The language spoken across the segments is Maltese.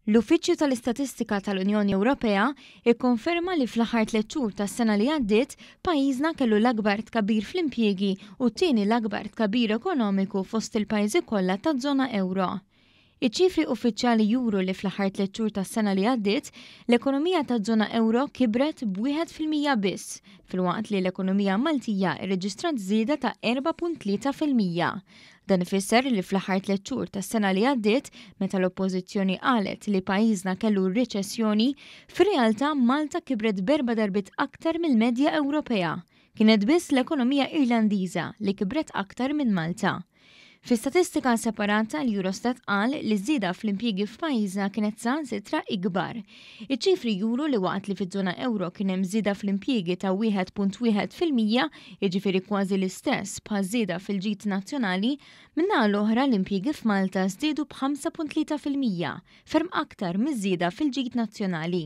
L-Uffiċċju tal-Istatistika tal-Unjoni Ewropea kkonferma li fl-aħħar tliet xhur tas-sena li għaddiet pajjiżna kellu l-akbar tkabbir fl-impjiegi u t-tieni l-akbar tkabbir ekonomiku fost il-pajjiżi kollha taż-żona ewro. Iċ-ċifri uffiċjali juru li fl-aħħar tliet xhur tas-sena li għaddiet, l-ekonomija taż-żona ewro kibret b'wieħed fil-mija biss, filwaqt li l-ekonomija Maltija rreġistrat żieda ta' 4.3 fil-mija. Dan ifisser li fl-aħħar tliet xhur tas-sena li għaddiet, meta l-Oppożizzjoni qalet li pajjiżna kellu riċessjoni, fir-realtà Malta kibret b'erba' darbiet aktar mill-medja Ewropea. Kienet biss l-ekonomija Irlandiża li kibret aktar minn Malta. Fi statistika separata l-Eurostat qal li ż-żieda fl-impjiegi f'pajjiżna kienet saħansitra ikbar. Iċ-ċifri juru li waqt li fiż-żona ewro kien hemm żieda fl-impjiegi ta' 1.1 fil-mija, jiġifieri kważi l-istess bħaż-żieda fil-ġid nazzjonali, min-naħa l-oħra l-impjiegi f'Malta żdiedu b'5.3 fil-mija, ferm aktar miż-żieda fil-ġid nazzjonali.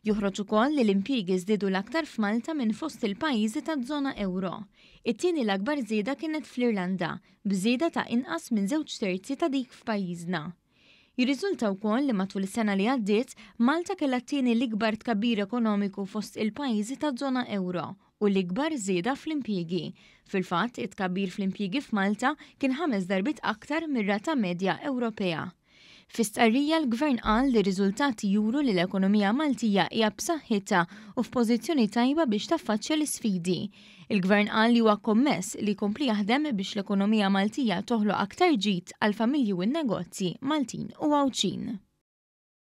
Joħroġ ukoll li l-impjiegi żdiedu l-aktar f'Malta minn fost il-pajjiżi taż-żona ewro. It-tieni l-akbar żieda kienet fl-Irlanda, b'żieda ta' inqas minn żewġ terzi ta' dik f'pajjiżna. Jirriżulta wkoll li matul is-sena li għaddiet, Malta kellha t-tieni l-ikbar tkabbir ekonomiku fost il-pajjiżi taż-żona ewro u l-ikbar żieda fl-impjiegi. Fil-fatt, it-tkabbir fl-impjiegi f'Malta kien ħames darbiet aktar mir-rata medja Ewropea. Fi stqarrija l-Gvern qal li r-riżultati juru li l-ekonomija Maltija hija b'saħħitha u f'pożizzjoni tajba biex taffaċċja l-isfidi. Il-Gvern qal li huwa kommess li jkompli jaħdem biex l-ekonomija Maltija toħloq aktar ġid għall-familji u n-negozji Maltin u Għawdxin.